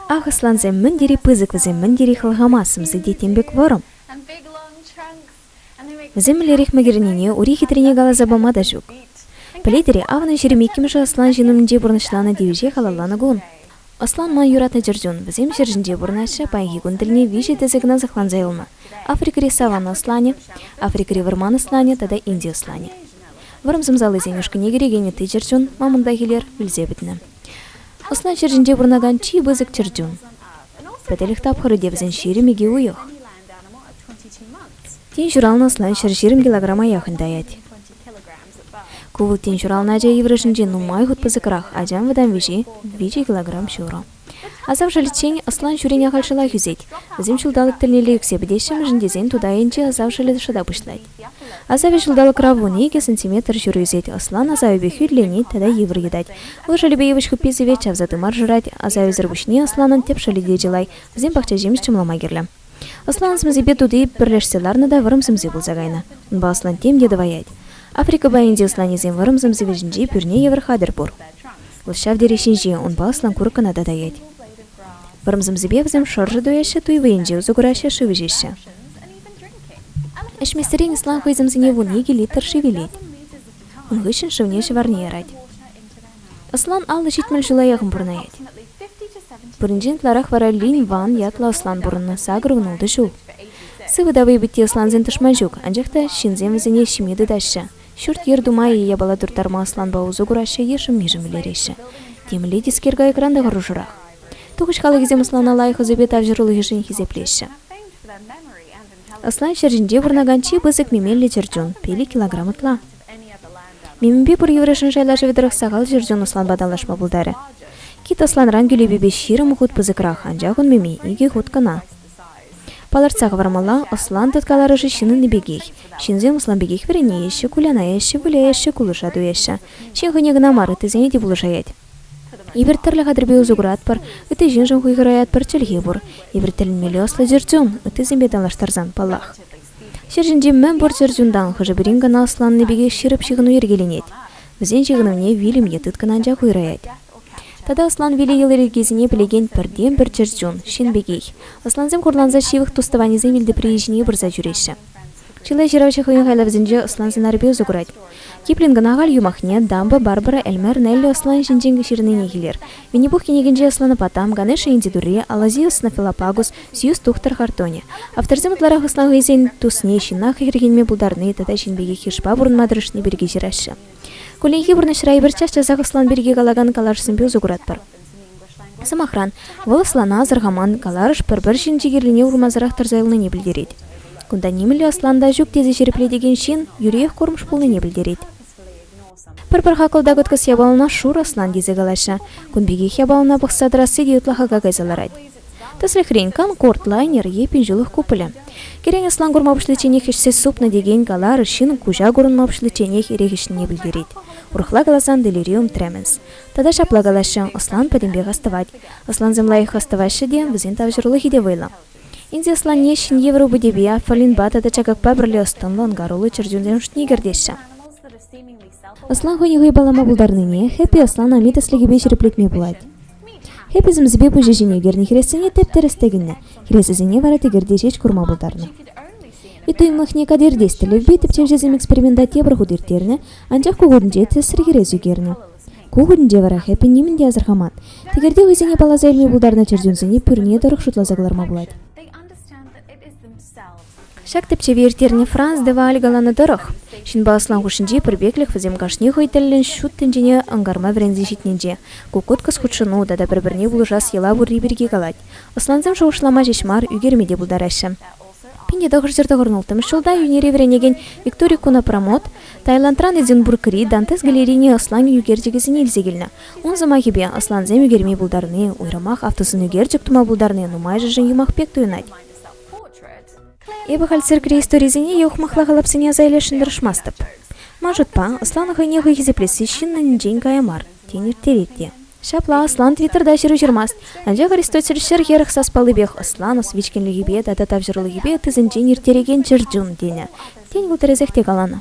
Ахӑслансем мӗн тери пысӑк, вӗсем мӗн тери хӑлхама сӗмсе те тем пек вӑрӑм. Вӗсем мӗнлерех мӗкӗрӗннине ури хитрине каласа пама та ҫук. Пӗлетӗр-и, авӑн ҫӗрӗм иккӗмӗшӗ аслан ҫын умӗнче пурнӑҫланӑ тивӗҫе халалланӑ кун. Аслан ман юратнӑ чӗрчун. Вӗсем ҫӗр ҫинче пурӑнаҫҫӗ, паянхи кун тӗлне виҫӗ тӗсӗ кӑна сыхланса юлнӑ. Африкӑри саван асланӗ, Африкӑри вӑрман асланӗ тата инди асланӗ. Вӑрӑм сӑмсаллисен ушкӑнне кӗрекен ытти чӗрчун мамонтах илер вилсе пӗтнӗ. Ӑсна ҫӗр ҫинче пурӑнакан чи пысӑк чӗрчун. Пӗтӗлӗх тапхӑрӗ те вӗсен ҫирӗм икӗ уйӑх. Тин ҫуралнӑ ӑсна ҫӗр ҫирӗм килограма яхӑн таять. Ку вӑл тин ҫуралнӑ ача йывӑрӑшӗнче нумай хут пысӑкрах, ачан вӑтам виҫи, виҫӗ килограмм ҫурӑ. Асав шӑлӗччен ӑслан ҫӳрен ахаль шӑлах ӳсет. Вӗсем ҫулталӑк тӗлнелле ӳксе пӗтеҫҫӗ-мӗншӗн тесен тутайӗнче асав шӑлӗ шӑта пуҫлать. Асавӗ ҫулталӑкра вун икӗ сантиметр ҫуру ӳсет. Ӑслан асавӗпе хӳтӗленет тата йывӑр йӑтать. Ывӑл шӑлӗпе йывӑҫ хуппи сивет, чавса тымар шӑрать. Асавӗсӗр пуҫне ӑсланӑн тӗп шӑлӗ те чылай. Вӗсем пахчаҫимӗҫ чӑмлама кирлӗ. Ӑслан сӗмсипе тути пӗрлешсе ларнӑ та вӑрӑм сӗмси пулса кайнӑ. Унпа ӑслан тем те тӑваять. Африка пайӗнчи ӑсланӗсем вӑрӑм сӗмси вӗҫӗнчи пӳрне евӗр хатӗр пур. Вӑл ҫав тери ҫинҫе, унпа ӑслан курӑкӑна та таять. Вӑрӑм сӗмсипе вӗсем шӑршӑ туяҫҫӗ, туй вӑйӗнче усӑ кураҫҫӗ, шыв ӗҫеҫҫӗ. Ӗҫместерен ӑслан хӑй сӗмсине вун икӗ литр шыв илет. Ун хыҫҫӑн шывне ҫӑварне ярать. Ӑслан аллӑ ҫитмӗл ҫул аякӑн пурӑнать. Пуринчен ытларах вара Лин Ван ятлӑ ӑслан пурӑннӑ сакӑр вунултӑ ҫул. Сывӑ та вӑйпитти ӑслансен тӑшман ҫук, анчах та ҫынсем вӗсене ҫиме тытаҫҫӗ. Ҫурт-йӗр тума е япала турттарма ӑсланпа усӑ кураҫҫӗ, йышӑм-мишӗм илереҫҫӗ. Темле тискер кайӑкран та хӑрушӑрах. Тухӑҫ халӑхӗсем ӑслана лайӑх ӑсӗпе тавҫӑрулӑхӗшӗн хисеплеҫҫӗ. Ӑслан ҫӗр ҫинче пурӑнакан чи пысӑк мемеллӗ чӗрчун, пилӗк килограмм ытла. Мимипе пур йывӑрӑшӗн шайлашӑвӗ тӑрӑх сахал ҫӗрчун ӑсланпа танлашма пултарӗ. Кит ӑсланран кӳлепепе ҫирӗм хут пысӑкрах, анчах ун мими икӗ хут кӑна. Палӑртса хӑвармалла, ӑслан тыткаларӑшӗ ҫынӑнни пекех. Ҫынсем ӑслан пекех вӗренеҫҫӗ, кулянаҫҫӗ, выляҫҫӗ, кулӑша туяҫҫӗ. Ҫын хӑйне кӑна мар, ыттисене те пулӑшаять. Эпир тӗрлӗ хатӗрпе усӑ куратпӑр, ытти ҫыншӑн хуйхӑраятпӑр, чӗлхе пур. Эпир тӗлӗнмелле ӑслӑ чӗрчун, ыттисемпе танлаштарсан, паллах. Ҫӗр ҫинчи мӗн пур чӗр чунтан хӑшӗ-пӗрин кӑна ӑсланнӑ пекех ҫирӗп ҫыхӑну йӗркеленет, вӗсен ҫыхӑнӑвне вилӗм е тыткӑн анчах уйӑраять. Тата ӑслан виле йӑли-йӗркисене пӗлекен пӗртен-пӗр чӗр чун – ҫын пекех. Ӑслансем хурланса ҫывӑх тус-тӑванӗсем илтеприйӗ ҫине пырса ҫӳреҫҫӗ. Чылай ҫыравҫӑ хӑйӗн хайлавӗсенче ӑслан сӑнарӗпе усӑ курать. Киплин кӑна халь юмахне Дамба Барбара Эльмер меллӗ ӑслан ҫинчен ҫырнине килер. Винни-Пух кӗнекинче асӑннӑ Там, Ганеша инди турри, Алазиус снофилопагус, Сьюз тухтӑр хартонӗ. Авторсем ытларах ӑсна хӑйсен тусне, ҫынна хӗрхенме пултарни тата ҫын пекех йышпа пурӑнма тӑрӑшни пирки ҫыраҫҫӗ. Кулленхи пурнӑҫра эпир час-часах ӑслан пирки калакан калашсемпе усӑ куратпӑр. Сӑмахран, вӑл ӑслана асӑрхаман каларӑш пӗр-пӗр ҫын чикӗллине урмансӑрах тӑрса юлнине пӗлтерет. Кунта нимӗнле ӑслан та ҫук тесе ҫирӗплетекен ҫын юриех курӑмҫ пулнине пӗлтерет. Пӗр-пӗр хакӑл та кӑткӑс япалана шур ӑслан тесе калаҫҫӗ. Кун пекех япалана пӑхса тӑрасси те ытла хака кайса ларать. Тӗслӗхрен, Конкорд лайнер е пинҫулӑх куполӗ. Кӗрен ӑслан курма пуҫличченех ӗҫсе супнӑ текен калар ҫын куҫа курӑнма пуҫличченех эрех ӗҫнине пӗлтерет. Урӑхла каласан делириум тремens. Тата ҫапла калаҫҫӗ, ӑслан пӗтӗмпех астӑвать. Ӑслансем лайӑх астӑваҫҫӗ те, вӗсен тавҫӑрулӑхӗ те вӑйлӑ. Индеслане ҫӗн европӑтӗпе, фаллинпа тата чакакпа пӗрле ӑс-тӑнлӑ ӑнкаруллӑ чӗрчунсем шутне кӗртеҫҫӗ. Ӑслан хӑйне хӑй паллама пултарнине Хэппи ӑслан ами тӗслӗхӗпе ҫирӗплетме пулать. Хэппи сӗмсипе пуҫӗ ҫине ернӗ хӗресене тӗп-тӗрӗс тӗкӗннӗ, хӗресӗсене вара тӗкӗрте ҫеҫ курма пултарнӑ. Ытуйӑмлӑхне катертес тӗллевпе тӗпчевҫӗсем эксперимента тепӗр хут ирттернӗ, анчах ку хутӗнче тӗсри хӗрес ӳкернӗ. Ку кунӗнче вара Хэппи нимӗн те асӑрхаман. Тӗкӗрте хӑйсене палласа илме пултарнӑ чӗрчунсене пӳрне тӑрӑх шутласа кӑларма пулать. Ҫак тӗпчеве ирттернӗ Франс де Валь каланӑ тӑрӑх, ҫынпа асlan хушшинчи пӗрпеклӗх вӗсем кашни хӑй тӗллӗн ҫут тӗнчене ӑнкарма вӗренсе ҫитнинче, куккуткӑс хутшӑну тата пӗр-пӗрне пулӑшас йӑла пурри пирки калать. Аслансем шухӑшлама ҫеҫ мар, ӳкерме те пултараҫҫӗ. Пинте тӑхӑрҫӗр тӑхӑрӑнӑлттӑмӗш ҫулта Йӳнери вӗренекен Виктори Кунопромот Таиландран Эдинбургри Дантес галерине ӑсланӗ ӳкерчӗкӗсене илсе килнӗ. Ун сӑмахӗпе, ӑслансем ӳкерме пултарни, уйрӑмах автосын ӳкерчӗк тума пултарни нумайӑшӗшӗн юмах пек туйӑнать. Эпӗ халь циркри историсене е ухмахла калапсене аса илесшӗн тӑрӑшмастӑп. Ман шутпа, ӑсланӑ хӑйне хӑй хисеплесси ҫыннӑнӗнчен кая мар, тен ирттерет те. Ҫапла ӑслан Твиттерта ҫыру ҫырмасть, анчах Аристотель ҫӗр хӗрӗх саспаллипех ӑсланӑс вичкӗнлӗхӗпе тата тавҫӑрулӑхӗпе ыттисенчен ирттерекен чӗрчун тенӗ. Тен, вӑл тӗрӗсех те каланӑ.